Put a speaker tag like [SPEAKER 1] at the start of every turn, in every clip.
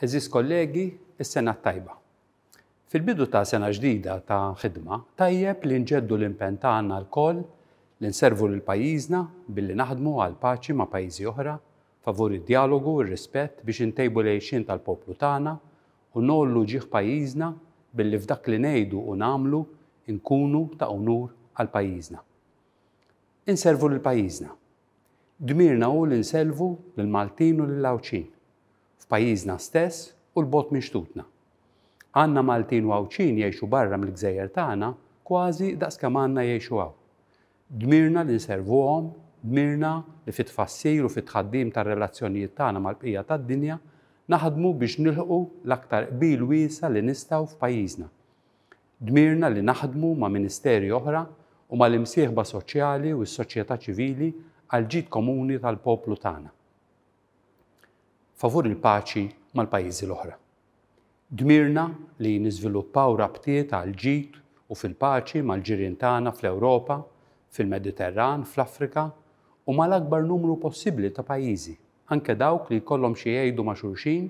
[SPEAKER 1] Għeżież kollegi, is-sena t-tajba. Fil-bidu ta' sena ġdida ta' ħidma, tajjeb li nġeddu l-impenn tagħna lkoll li nservu lil pajjiżna billi naħdmu għall-paċi ma' pajjiżi oħra, favur id-djalogu, ir-rispett biex intejbu l-għixien tal-poplu tagħna u ngħollu ġieħ pajjiżna billi f'dak li ngħidu u nagħmlu nkunu ta' unur għal pajjiżna. Inservu lil pajjiżna. Dmirna hu li nsellvu lill-Maltin u lill-Għawdxin, f'pajjiżna stess u 'l bogħod minn xtutna. Għandna Maltin u Għawdxin jgħixu barra mill-gżejjer tagħna kważi daqs kemm għandna jgħixu hawn. Dmirna li nservuhom, dmirna li fit-tfassil u fit-tħaddim tar-relazzjonijiet tagħna mal-bqija tad-dinja naħdmu biex nilħqu l-aktar qbil wiesa' li nistgħu f'pajjiżna. Dmirna li naħdmu ma' ministeri oħra u mal-imsieħba soċjali u s-soċjetà ċivili għall-ġid komuni tal-poplu tagħna favur il-paċi mal-pajjiżi l-oħra. Dmirna li niżviluppaw rabtiet għall-ġid u fil-paċi mal-ġirien tagħna fl-Ewropa, fil-Mediterran, fl-Afrika u mal-akbar numru possibbli ta' pajjiżi, anke dawk li jkollhom xi jgħidu ma' xulxin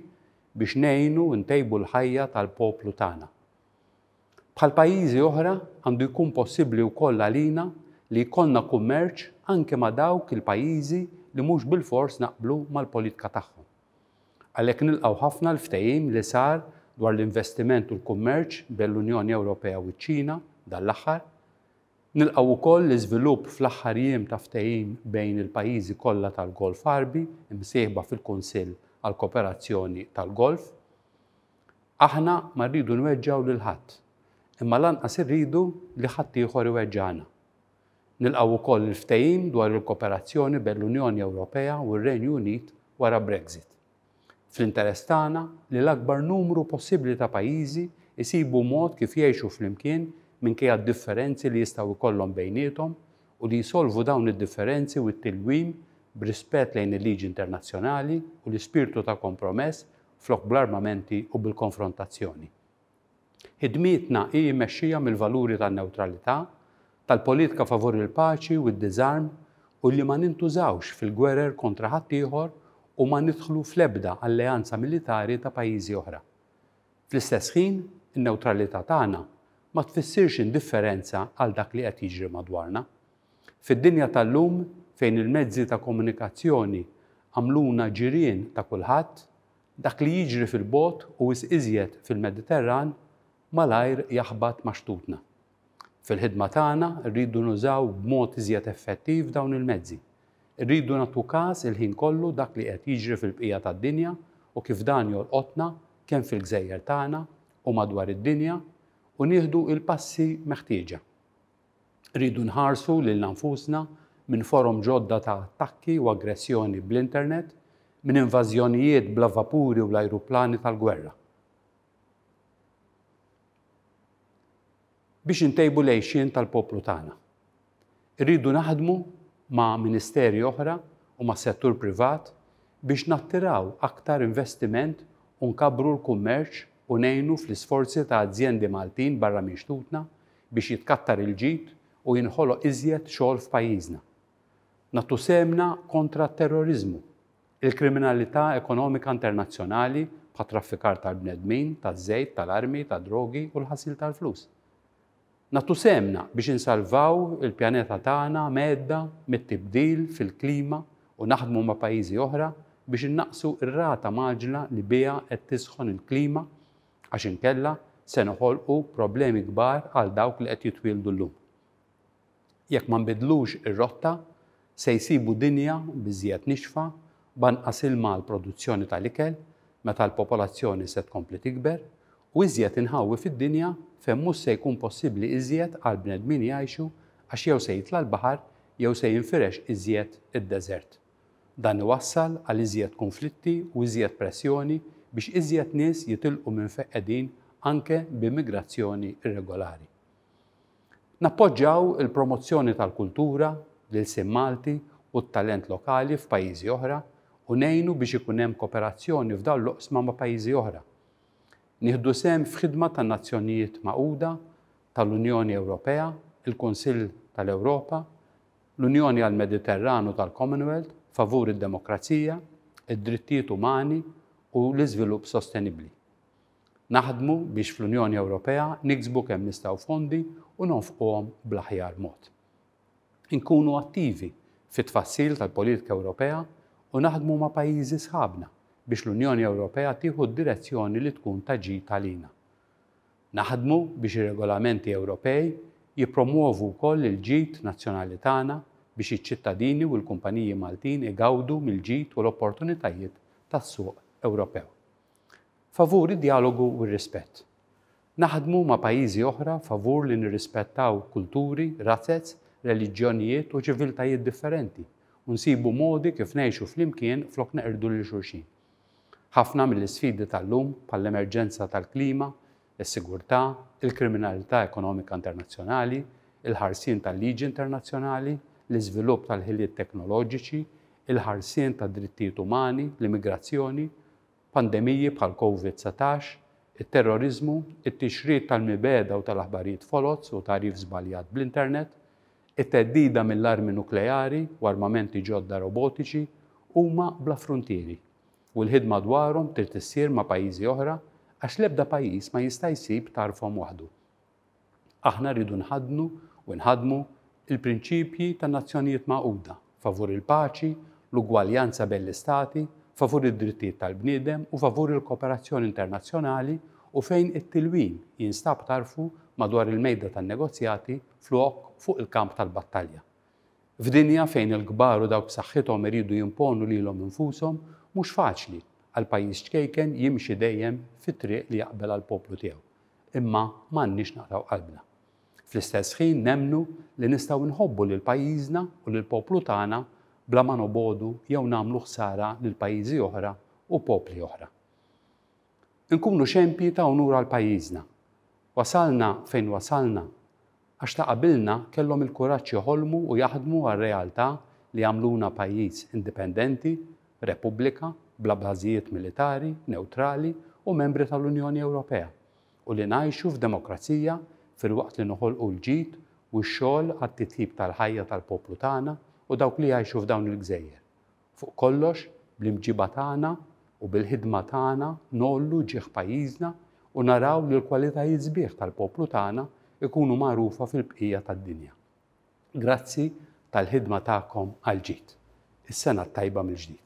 [SPEAKER 1] biex ngħinu ntejbu l-ħajja tal-poplu tagħna. Bħal pajjiżi oħra, għandu jkun possibbli wkoll għalina li jkollna kummerċ anke ma' dawk il-pajjiżi li mhux bilfors naqblu mal-politika tagħhom. Għalhekk nilqgħu ħafna l-ftehim li sar dwar l-investiment u l-kummerċ bejn l-Unjoni Ewropea u ċ-Ċina dan l-aħħar. Nilqgħu wkoll l-iżvilupp fl-aħħar jiem ta' ftehim bejn il-pajjiżi kollha tal-Golf Għarbi msieħba fil-Kunsill għall-Kooperazzjoni tal-Golf. Aħna ma rridu nweġġgħu lil ħadd, imma lanqas irridu li ħaddieħor iweġġagħna. Nilqgħu wkoll il-ftehim dwar il-koperazzjoni bejn l-Unjoni Ewropea u r-Renju Unit wara Brexit. Fl-interess tagħna li l-akbar numru possibbli ta' pajjiżi jsibu mod kif jgħixu flimkien minkejja d-differenzi li jistgħu jkollhom bejniethom u li jsolvu dawn id-differenzi u t-tilwim b'rispett lejn il-liġi internazzjonali u l-ispirtu ta' kompromess flok bl-armamenti u bil-konfrontazzjoni. Ħidmietna hi mmexxija mill-valuri tan-newtralità, tal-politika favur il-paċi u d-diżarm u li ma nintużawx fil-gwerer kontra ħaddieħor u ma nidħlu fl-ebda alleanza militari ta' pajjiżi oħra. Fl-istess ħin, in-newtralità tagħna ma tfissirx indifferenza għal dak li qed jiġri madwarna. Fid-dinja tal-lum fejn il-mezzi ta' komunikazzjoni għamluna ġirien ta' kulħadd, dak li jiġri fil-bogħod u wisq iżjed fil-Mediterran malajr jaħbat ma' xtutna. Fil-ħidma tagħna rridu nużaw b'mod iżjed effettiv dawn il-mezzi. Irridu nagħtu kas il-ħin kollu dak li qed jiġri fil-bqija tad-dinja u kif dan jolqotna kemm fil-gżejjer tagħna u madwar id-dinja u nieħdu il-passi meħtieġa. Rridu nħarsu lilna nfusna minn forom ġodda ta' attakki u aggressjoni bl-internet, minn invażjonijiet bla vapuri u l-ajruplani tal-gwerra. Biex intejbu l-għejxien tal-poplu tagħna, irridu naħdmu ma' ministeri oħra u mas-settur privat biex nattiraw aktar investiment u nkabbru l-kummerċ u ngħinu fl-isforzi ta' azjendi Maltin barra minn xtutna biex jitkattar il-ġid u jinħoloq iżjed xogħol f'pajjiżna. Nagħtu sehemna kontra t-terroriżmu, il-kriminalità ekonomika internazzjonali bħat-traffikar tal-bnedmin, taż-żejt, tal-armi, tad-drogi u l-ħasil tal-flus. Nagħtu sehemna biex insalvaw il-pjaneta tagħna mhedda mit-tibdil fil-klima u naħdmu ma' pajjiżi oħra biex innaqqsu r-rata mgħaġġla li biha qed tisħon il-klima għax inkella se noħolqu problemi kbar għal dawk li qed jitwieldu llum. Jekk ma nbiddlux ir-rotta, se jsibu dinja biżżejjed nixfa b'anqas ilma għall-produzzjoni tal-ikel meta l-popolazzjoni se tkompli tikber u iżjed inħawi fid-dinja fejn mhux se jkun possibbli iżjed għall-bnedmin jgħixu għax jew se jitla' l-baħar jew se jinfirex iżjed id-deżert. Dan iwassal għal iżjed kunflitti u iżjed pressjoni biex iżjed nies jitilqu minn fejn qegħdin anke b'immigrazzjoni irregolari. Nappoġġaw il-promozzjoni tal-kultura, l-ilsien Malti u t-talent lokali f'pajjiżi oħra u ngħinu biex ikun hemm koperazzjoni f'dawn l-oqsma ma' pajjiżi oħra. Nieħdu sehem f'ħidma tan-Nazzjonijiet Magħquda, tal-Unjoni Ewropea, il-Kunsill tal-Ewropa, L-Unjoni għall-Mediterranu tal-Commonwealth favur id-demokrazija, id-drittijiet umani u l-iżvilupp sostenibbli. Naħdmu biex fl-Unjoni Ewropea niksbu kemm nistgħu fondi u nonfquhom bl-aħjar mod. Inkunu attivi fit-tfassil tal-politika Ewropea u naħdmu ma' pajjiżi sħabna biex l-Unjoni Ewropea tieħu d-direzzjoni li tkun ta' ġid għalina. Naħdmu biex ir-regolamenti Ewropej jippromwovu wkoll il-ġid nazzjonali tagħna biex iċ-ċittadini u l-kumpaniji Maltin igawdu mill-ġid u l-opportunitajiet tas-suq Ewropew. Favur id-djalogu u r-rispett. Naħdmu ma' pajjiżi oħra favur li nirrispettaw kulturi, razez, reliġjonijiet u ċiviltajiet differenti u nsibu modi kif ngħixu flimkien flok neqirdu lil xulxin. Ħafna mill-isfidi tal-lum, bħall-emerġenza tal-klima, is-sigurtà, il-kriminalità ekonomika internazzjonali, il-ħarsien tal-liġi internazzjonali, l-iżvilupp tal-ħiliet teknoloġiċi, il-ħarsien tad-drittijiet umani, l-immigrazzjoni, pandemiji bħal Covid satax, it-terroriżmu, it-tixrid tal-mibegħda u tal-aħbarijiet foloz u tagħrif żbaljat bl-internet, It-theddida mill-armi nukleari u armamenti ġodda robotiċi huma bla fruntieri, u l-ħidma dwarhom trid issir ma' pajjiżi oħra għax l-ebda pajjiż ma jista' jsib tarfhom waħdu. Aħna rridu nħaddnu u nħaddmu l-prinċipji tan-Nazzjonijiet Magħquda. favur il-paċi, l-ugwaljanza bejn l-istati, favur id-drittijiet tal-bniedem u favur il-kooperazzjoni internazzjonali u fejn it-tilwim jinstab tarfu madwar il-mejda tan-negozjati flok fuq il-kamp tal-battalja. F'dinja fejn il-kbar u dawk b'saħħithom iridu jimponu lilhom infushom, mhux faċli għal pajjiż ċkejken jimxi dejjem fit-triq li jaqbel għall-poplu tiegħu. Imma m'għandniex naqtgħu qalbna. Fl-istess ħin nemmnu li nistgħu nħobbu lil pajjiżna u lill-poplu tagħna bla ma nobogħdu jew nagħmlu ħsara lil pajjiżi oħra u popli oħra. Inkunu xempji ta' unur għal pajjiżna. Wasalna fejn wasalna għax ta' qabilna kellhom il-kuraġġ joħolmu u jaħdmu għar-realtà li jagħmluna pajjiż indipendenti, repubblika, bla bażijiet militari, newtrali u membri tal-Unjoni Ewropea. u li ngħixu f'demokrazija filwaqt li noħolqu l-ġid u x-xogħol għat-titjib tal-ħajja tal-poplu tagħna u dawk li jgħixu f'dawn il-gżejjer. Fuq kollox, bl-imġiba tagħna u bil-ħidma tagħna ngħollu ġieħ pajjiżna u naraw li l-kwalitajiet sbieħ tal-poplu tagħna jkunu magħrufa fil-bqija tad-dinja. Grazzi tal-ħidma tagħkom għall-ġid. Is-sena t-tajba mill-ġdid.